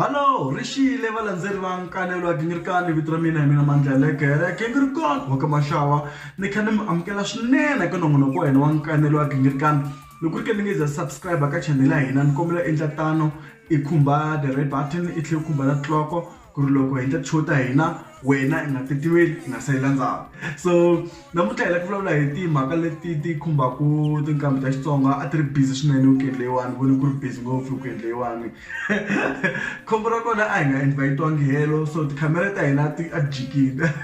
Halo, ri xiyile valandzeri va nkanelo wa ginghirikani vito ra mina hi mina mandla ya lekere gingirikon wa ka maxawa ni kha ni mi amukela swinene eka nongonoko wa hina wa nkanelo wa ginghirikani loko ri ke ni nge za subscribe ka chanel ya hina ni kombela endla tano i khumba the red button i tlhela i khumba na tiloko ku ri loko hi endla ti-show ta hina wena i nga titiweli i nga salela ndzhaku so namuntlha hi lava ku vulavula hi timhaka leti ti khumbaka tinqambi ta Xitsonga a ti ri busy swinene weekend leyiwani voni ku ri busy ngopfu weekend leyiwani khombo ra kona a hi nga invite-iwangi helo so tikhamera ta hina ti a ti jikile.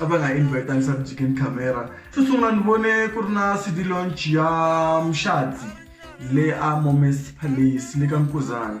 a va nga invita leswaku chicken camera xo sungula ni vone ku ri na cd launch ya muxadzi le a moments palace le ka nkuzana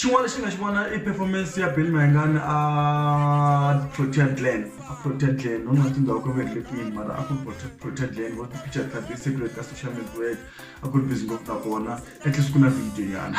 xin'wana lexi nga xi vona i performance ya bill mayengani a protea glen a protea glen no na tindhawu ka veri lekwini mara a ku protea glen vo ti-picture ta ti-secret ka social network a ku ri busy ngopfu na kona at least ku na video yana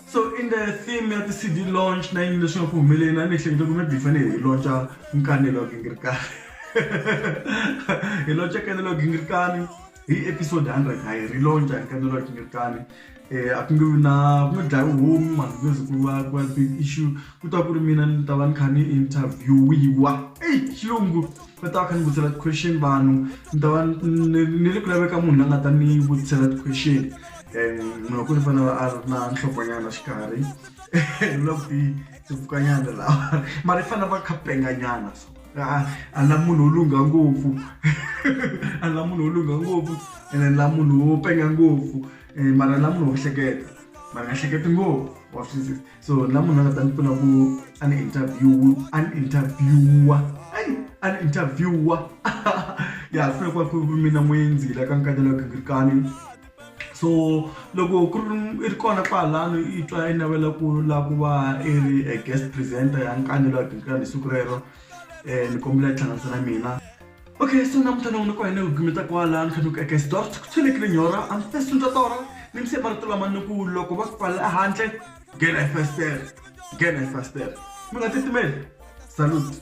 So in the theme ya ti-CD launch na yini leswi nga ku humeleni a ni ehleketa ku maybe hi fanele hi launcha nkanelo wa gingirikani hi launcha nkanelo wa gingirikani hi episode 100 ha hi ri launcha nkanelo wa gingirikani um a ku nge vi na ku nge dlayi homu mani ku nge ze ku va ku va big issue ku ta ku ri mina ni ta va ni kha ni interviewiwa eyi xilungu va ta va kha ni vutisela ti-question vanhu ni ta va ni le ku laveka munhu la nga ta ni vutisela ti-question munhu wa kule fana a ri na nhlokonyana xikarhi na kuti tipfukanyana lawa mara i fanele va khapenganyana a la munhu wo lungha ngopfu a la munhu wo lungha ngopfu ene la munhu wo penga ngopfu eh, mara la munhu wo hleketa mara nga hleketi ngopfu wa swisisa so la munhu a nga ta ni pfuna ku an interview an interviewa an interviewa ya funa ku va ku mina n'windzila ka nkatela gingirikani so loko ku ri i ri kona kwalano i twa i navela ku la ku va i ri a guest presenter ya nkani la hi siku rero um ni kombela yi hlanganisa na mina okay so namuntlha non'wini ku hene gumeta kwala ni kha ni ku eka xidor ku tshwelekile nyora am first nta tora ni mse marito lama ni ku loko va ku pfalela ehandle nghena hi fastele nghena hi fastele mi nga titimeli salute